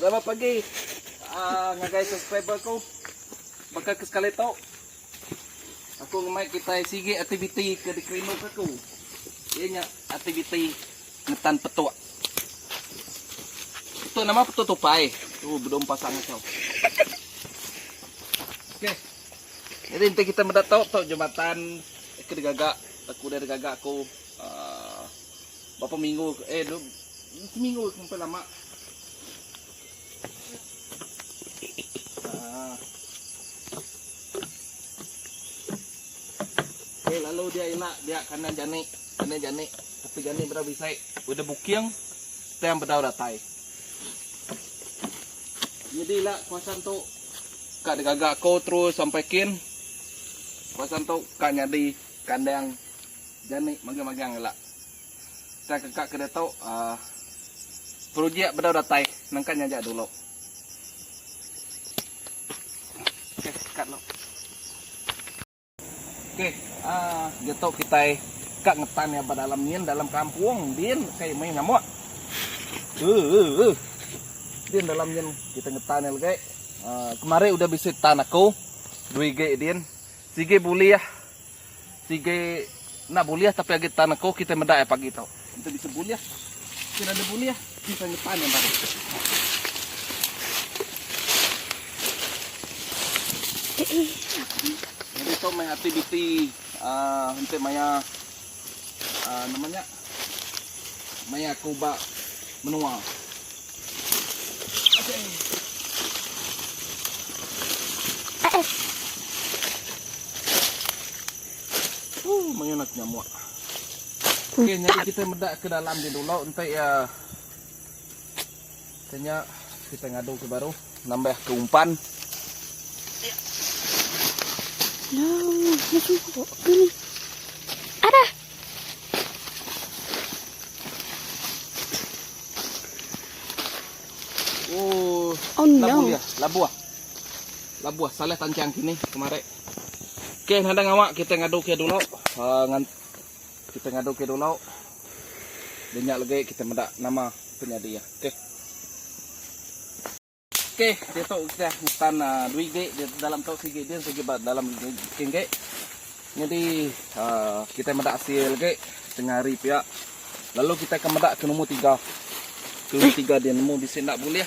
Selamat pagi aaa ngagai subscriber aku. Baka ke sekali tu aku ngemai kitai sigi aktiviti ke dikerinduka aku. Iya nya aktiviti ngetan petuk. Petuk nama petuk tupai. Tu bedom pasang aku. Okey. Jadi enti kita meda tu tu jematan ke digaga aku dah digaga aku. Uh, berapa minggu eh dua seminggu sampai lama. Uh. Okay, lalu dia ialah dia kandang jani, kandang jani, tapi jani berapa besar, udah buking, tiang berapa datai. Jadi lah kuasan tu kak digagak kau terus sampai kin kuasan tu kak nyadi kandang Jani magang-magang ngela. Tang keka ke ditu projek bedau datai nangka nyaja dulu. Okey, kat dulu. Okey, ah ditu kitai ka ngetan iya ba dalam nyin dalam kampung din kai meh ngamuk. Uh, uh, uh. Din dalam nyin kita ngetan iya legi. Ah kemari udah bisi tan aku. Dui gig din. Sigi bulih. Sigi enda bulih tapi agi tan aku kitai meda iya pagi tu. Enti bisi bulih kin ada bulih kitai ngetan iya baru. Nyadi tu meh aktiviti uhh enti maya uhh nama nya. Maya aku ba menua. Ooh, mayuh nak nyamuk. Okey, jadi kita meda ke dalam dia dulu enti uh, Ke nya kita ngadu ke baru nambah ke umpan. Ada. Oh, oh no. Labuh dia, labuh. Labuh salah tancang kini kemarin. Okey, nadang awak kita ngadu ke dulu. Uh, Kita ngadu ke dulu. Denya legi kita meda nama penyadi iya. Okey. Okey, diatu kita ngetan uh, dua gig di dalam tu sigi dia sigi ba dalam gig. Jadi uh, kita meda hasil lagi tengah hari pia. Lalu kita akan meda ke nombor tiga. Ke nombor tiga dia nemu bisi nak boleh.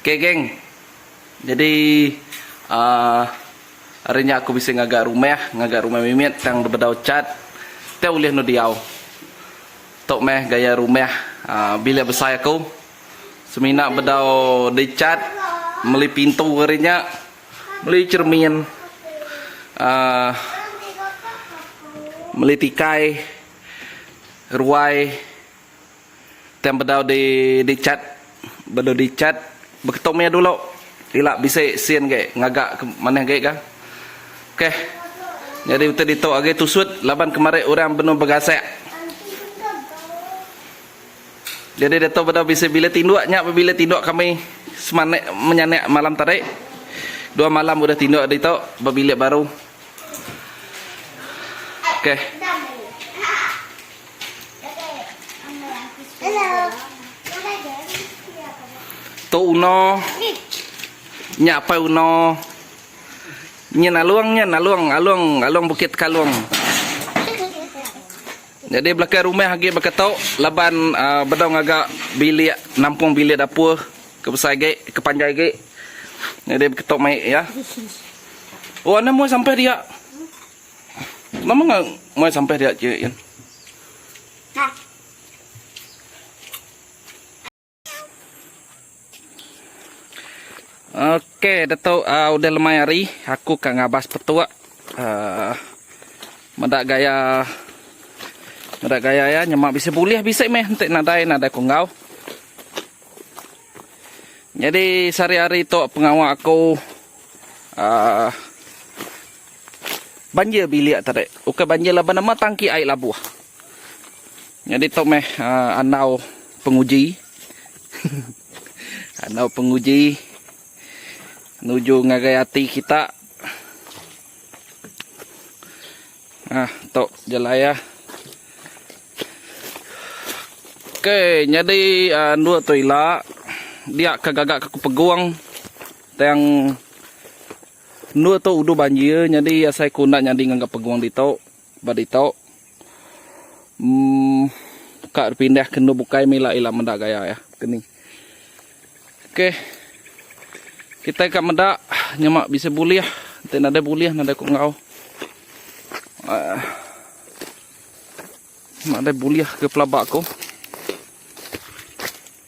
Okay geng, jadi uhh ari nya aku bisi ngaga rumah, ngaga rumah mimit tang dibedau chat tau ulih anu diau. Tu meh gaya rumah uhh bilik besai aku. Semina bedau di chat, meli pintu ari nya, meli cermin uhh meli tikai, ruai. Tang bedau di dichat bedau dichat beketung mia dulu ila bisi sin agi ngaga ke manah agi ga. Ok nyadi utai ditu agi tusut laban kemari orang benung begasak. Jadi ditu bedau bisi bilik tinduk nya meh bilik tinduk kami semana menyanak malam tadi. Dua malam udah tinduk ditu ba bilik baru. Ok. Tu uno nya apai uno nyin along nyin along along along bukit tekalong jadi belakang rumah agi baka tu laban uhh bedau ngaga bilik nampung bilik dapur ke besai agi ke panjai agi jadi baka tu mai iya. Oh anak meh sampah dia. Nama ngah muai sampah dia je Ian. Okey, Dato uh, udah lemai hari aku ka ngabas petuk. Uh, meda gaya meda gaya ya nyemak bisa boleh bisa meh enti nadai nadai kunggau. Nyadi sehari-hari tu pengawa aku aaa banjir bilik tadi. Ukai banjir laban nama tangki ai labuh. Nyadi tu meh aaa andau penguji andau penguji nuju ngagai ati kita. Nah tu jalai ah. Ok nyadi andu tu ila dia ka gaga ke pegung tang andu tu uduh banjir nyadi asai ku enda nyadi ngaga pegung ditu ba ditu umm ka dipindah ke andu bukai mih ila meda gaya iya keni. Ok kitai ka meda nyema bisi bulih enti nadai bulih nadai ku enggau. Uh, nadai bulih ke pelaba ku.